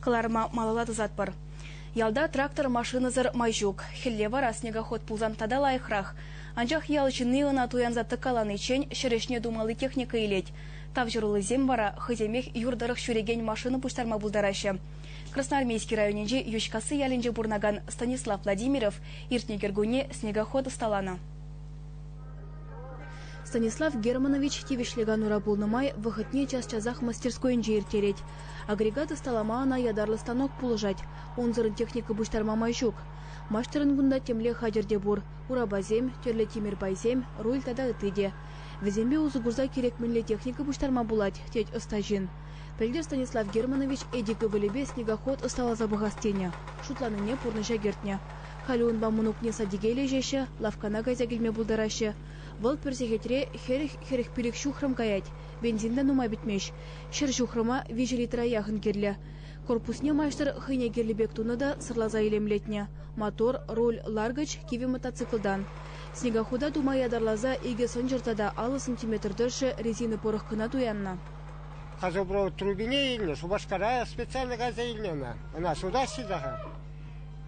Кӑларӑма малалла тӑсатпӑр. Ялта трактор машинӑсӑр май ҫук. Хӗлле вара снегоход пулсан тата лайӑхрах. Анчах ял ҫынни ӑна туянса тӑккаланиччен ҫӗр ӗҫне тумалли техника илет. Тавҫӑруллисем вара хӑйсемех юр тӑрӑх ҫӳрекен машина пуҫтарма пултараҫҫӗ. Красноармейски районӗнчи Йӳҫкасси ялӗнче пурӑнакан Станислав Владимиров иртнӗ кӗркунне снегоход ӑсталанӑ. Станислав Германович тивӗҫлӗ канура пулнӑ май вӑхӑтне час-часах мастерскойӗнче ирттерет. Агрегат ӑсталама ӑна ятарлӑ станок пулӑшать. Унсӑрӑн техника пуҫтарма май ҫук. Маҫтӑрӑн кунта темле хатӗр те пур: урапасем, тӗрлӗ тимӗр пайсем, руль тата ытти те. Вӗсемпе усӑ курса кирек мӗнле техника пуҫтарма пулать, тет ӑста ҫын. Пӗлтӗр Станислав Германович Эдик ывӑлӗпе снегоход ӑсталаса пӑхас тенӗ, шутланине пурнӑҫа кӗртнӗ. Халӗ унпа мӑнукне садике леҫеҫҫӗ, лавккана кайса килме пултараҫҫӗ. Вӑл пӗр сехетре хӗрӗх-хӗрӗх пилӗк ҫухрӑм каять. Бензин та нумай пӗтмест. Ҫӗр ҫухрӑма виҫӗ литра яхӑн кирлӗ. Корпусне маҫтӑр хӑйне кирлӗ пек тунӑ та сӑрласа илемлетнӗ. Мотор, руль, ларкӑч кивӗ мотоциклтан. Снегохода тума ятарласа икӗ сӑнчӑр тата аллӑ сантиметр тӑршшӗ резина пӑрӑх кӑна туяннӑ. Газопровод трубине илнӗ, Шупашкара специально кайса илнӗ ӑна. Ӑна сутаҫҫӗ та-ха.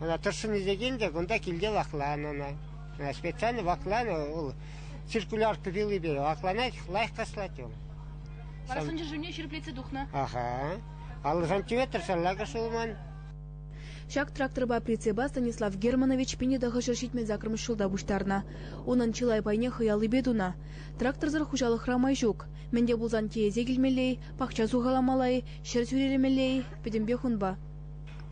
Ӑна тӑршшӗн ӳсекен те кунта килте вакланӑ ӑна. Специально вакланӑ вӑл циркулярка пилипе вакланать, лайӑх каслать он. Вара сӑнчӑшывне ҫирӗплетсе тухнӑ. Аха. Аллӑшан тӳветр шаллака шулман. Ҫак тракторпа прицепа Станислав Германович пине тахӑшӗ ҫитмен саккӑрмӗш ҫулта пуҫтарнӑ. Унӑн чылай пайне хӑяллипе тунӑ. Тракторсӑр хуҫалӑхра май ҫук. Мӗн те пулсан тиесе килмелле-и, пахча сухаламалла-и, ҫӗр сӳрелемелле-и, пӗтӗмпех унпа.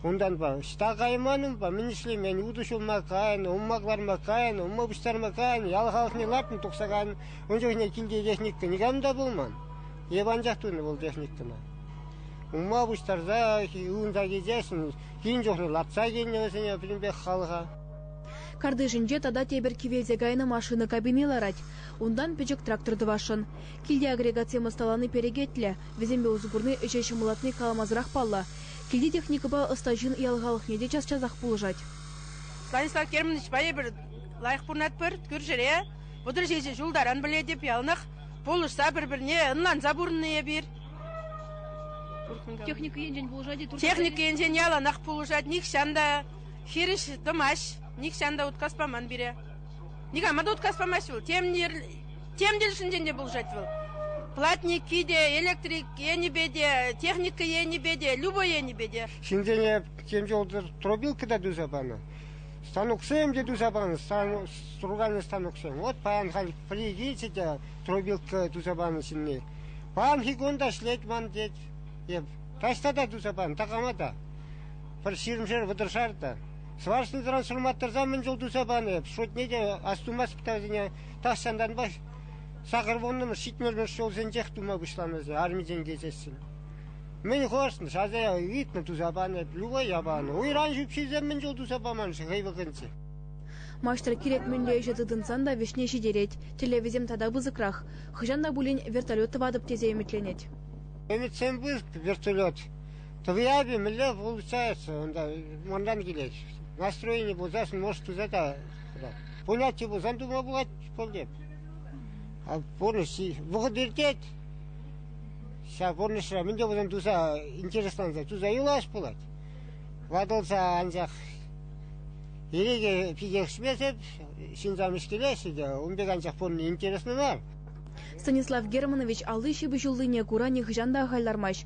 Унтанпа ӑҫта кайман-унпа мӗн ӗҫлемен, утӑ ҫулма кайнӑ, умма кӑларма кайнӑ, умма пуҫтарма кайнӑ, ял халӑхне лартнӑ тухса кайнӑ. Ун чухне килте техника никам та пулман. Эп анчах тунӑ вӑл техникӑна. Умма пуҫтарса унта килсессӗн кин чухне лартса килнӗ вӗсене пӗтӗмпех халӑха. Картишӗнче тата тепӗр кивелсе кайнӑ машина кабини ларать. Унтан пӗчӗк трактор тӑвасшӑн. Килте агрегатсем ӑсталани перекетлӗ. Вӗсемпе усӑ курни ӗҫе ҫӑмӑллатни каламасӑрах паллӑ. Килти техникӑпа ӑста ҫын ял халӑхне те час-часах пулӑшать. Станислав Кермановичпа эпир лайӑх пурӑнатпӑр кӳршӗре. Вӑтӑр ҫичӗ ҫул таран пӗлетӗп яланах пулӑшса пӗр-пӗрне ӑнланса пурӑннӑ эпир. Техника енчен пулӑшать-и? Техника енчен яланах пулӑшать. Нихҫан та хирӗҫ тӑмасть, нихҫан та уткас паман пире. Никама та уткас памасть вӑл. Тем тем тӗлӗшӗнчен те пулӑшать вӑл. Платники те, электрик енӗпе те, техника енӗпе те, любой енӗпе те. Ҫынсене тем чухлӗ тропилка та туса панӑ. Станоксем те туса панӑ, стругальный станоксем. Вот паян халь прийдите те тропилка туса панӑ ҫынни. Паянхи кун та ӗҫлет ман тет. Эп таҫта та туса панӑ, такама та. Пӗр ҫирӗмшер вӑтӑршар та. Шӑварснӑран ҫурма тӑрса мӗн чул туса панӑ эп. Шутне те астумастӑп та вӗсене. Тахҫантанпа сакӑр вуннӑмӗш ҫитмӗлмӗш ҫулсенчех тума пуҫланӑ вӗсем армисен килсессӗн. Мӗн хӑрснӑ, шаса ыйтнӑ, туса панӑ эп, любая панӑ. Уйран ҫӳпҫисем мӗн чул туса паман-ши хӑй вӑхӑтӗнче? Маҫтӑр кирек мӗнле ӗҫе тытӑнсан та вӗҫне ҫитерет. Тӗллевӗсем тата пысӑкрах. Хӑҫан та пулин вертолет тӑватӑп тесе ӗмӗтленет. Ӗмӗтсем пур вертолет. Тӑвияпи мӗнле получается унта манран килет. Настроени пулсассӑн может туса та тӑрать. Пулатчӗ пулсан тума пулать пултем. А пурнӑҫ вӑхӑт иртет. Ҫав пурнӑҫра мӗн те пулсан туса интересланса туса юлас пулать. Ватӑлса анчах ирӗке пикешмесеп ҫынсам ӗҫкелеҫҫӗ те ун пек анчах пурӑнни интереслӗ мар. Станислав Германович алли ҫыпӑҫуллине кура нихӑҫан та ахаль лармасть.